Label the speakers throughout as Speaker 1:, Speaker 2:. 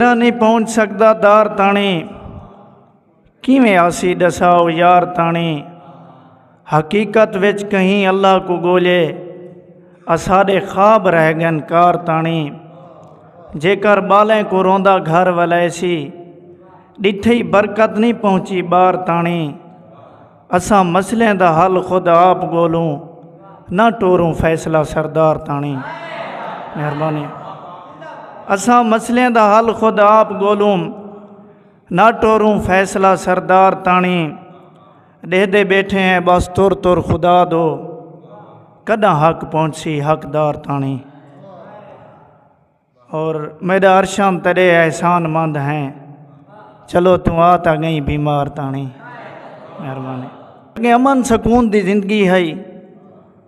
Speaker 1: جیڑھا نہیں پہنچ سکدا دار تاݨی کیویں آسی ڈساؤ یار تاݨی حقیقت وچ کہیں اللہ کو گولے اساڈے خواب رہ گن کار تاݨی جے کر بالیں کو روندا گھر ولیسی ڈٹھئی برکت نہیں پہنچی بار تاݨی اساں مسئلیں دا حل خود آپ گولوں نہ ٹوروں فیصلہ سردار تانی مہربانی اساں مسئلیں دا حل خود آپ گولوں نہ ٹوروں فیصلہ سردار تانی ڈہ دے بیٹھے ہیں بس تر تر خدا دو کدا حق پہنچ سی حقدار تانی اور میڈا ارشام تیڈے احسان مند ہیں چلو تو آ تا گئی بیمار تانی مہربانی اگے امن سکون دی زندگی ہئی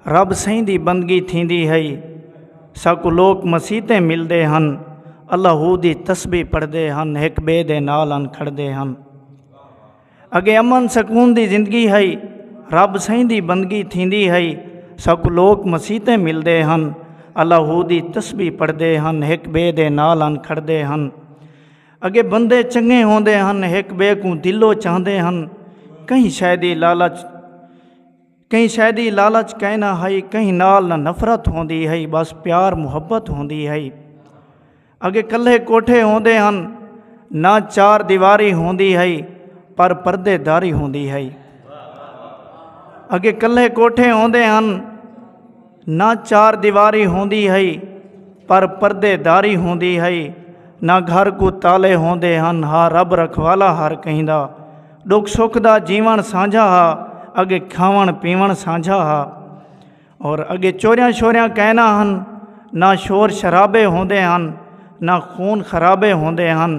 Speaker 1: رب سائیں دی بندگی تھیندی ہئی ساکو لوک مسیتیں ملدے ہن اللہ دی تسبیح پڑھدے ہن ایک بے دے نال ان کھڑدے ہن اگے امن سکون دی زندگی ہئی۔ رب سئیں دی بندگی تھیندی ہئی۔ ساکوں لوک مسیتیں ملدے ہن۔ اللہ دی تسبیح پڑھدے ہن۔ ہک بئے دے نال آن کھڑدے ہن۔ اگے بندے چنگے ہوندے ہن۔ ہک بئے کوں دلوں چاہندے ہن۔ کہیں شئے دی لالچ۔ کہیں شے دی لالچ کائے نہ ہئی کہیں نال نہ نفرت ہوندی ہئی بس پیار محبت ہوندی ہئی اگے کلھے کوٹھے ہوندے ہن نہ چار دیواری ہوندی ہئی پر پردے داری ہوندی ہئی اگے کلھے کوٹھے ہوندے ہن نہ چار دیواری ہوندی ہئی پر پردے داری ہوندی ہئی نہ گھر کوں تالے ہوندے ہن ہا رب رکھوالا ہر کہیں دا ڈکھ سکھ دا جیون سانجھا ہا اگے کھاون پیون سانجھا ہا اور اگے چوریاں شوریاں کہنا ہن نہ شور شرابے ہوندے ہن نہ خون خرابے ہوندے ہن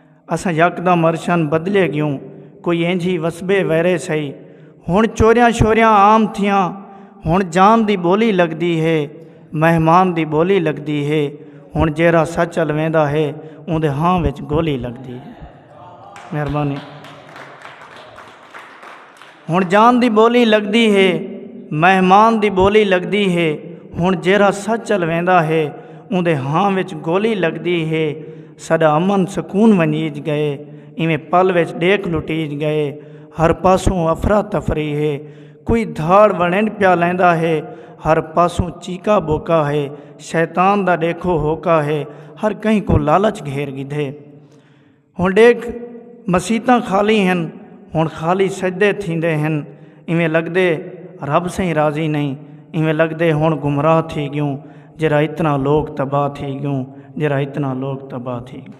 Speaker 1: اساں یکدم عرشاں بدلے گیوں کوئی اینجھی وسبے ویرے سئی ہن چوریاں شوریاں عام تھیاں ہن جام دی بولی لگدی ہے مہمان دی بولی لگدی ہے ہن جیرا سچ الویندا ہے اوندے ہاں وچ گولی لگدی ہے مہربانی ہن جان دی ٻولی لڳدی ہے مہمان دی ٻولی لڳدی ہے ہن جیرھا سچ چل ویندا ہے اوندے ہاں وچ گولی لڳدی ہے ساڈا امن سکون ونجیج گئے ایویں پل وچ ݙیکھ لٹیج گئے ہر پاسوں افرا تفری ہے کوئی دھاڑ وڑنڈ پیا لیندا ہے ہر پاسوں چیکا بوکا ہے شیطان دا ݙیکھو ہوکا ہے ہر کہیں کو لالچ گھیر گھدے ہݨ ݙیکھ مسیتاں خالی ہن ہݨ خالی سجدے تھیندے ہن ایویں لڳدے رب سئیں راضی نئیں ایویں لڳدے ہݨ گمراہ تھی ڳیوں جیرھا اتنا لوک تباہ تھی ڳیوں جیرھا اتنا لوک تباہ تھی ڳیوں۔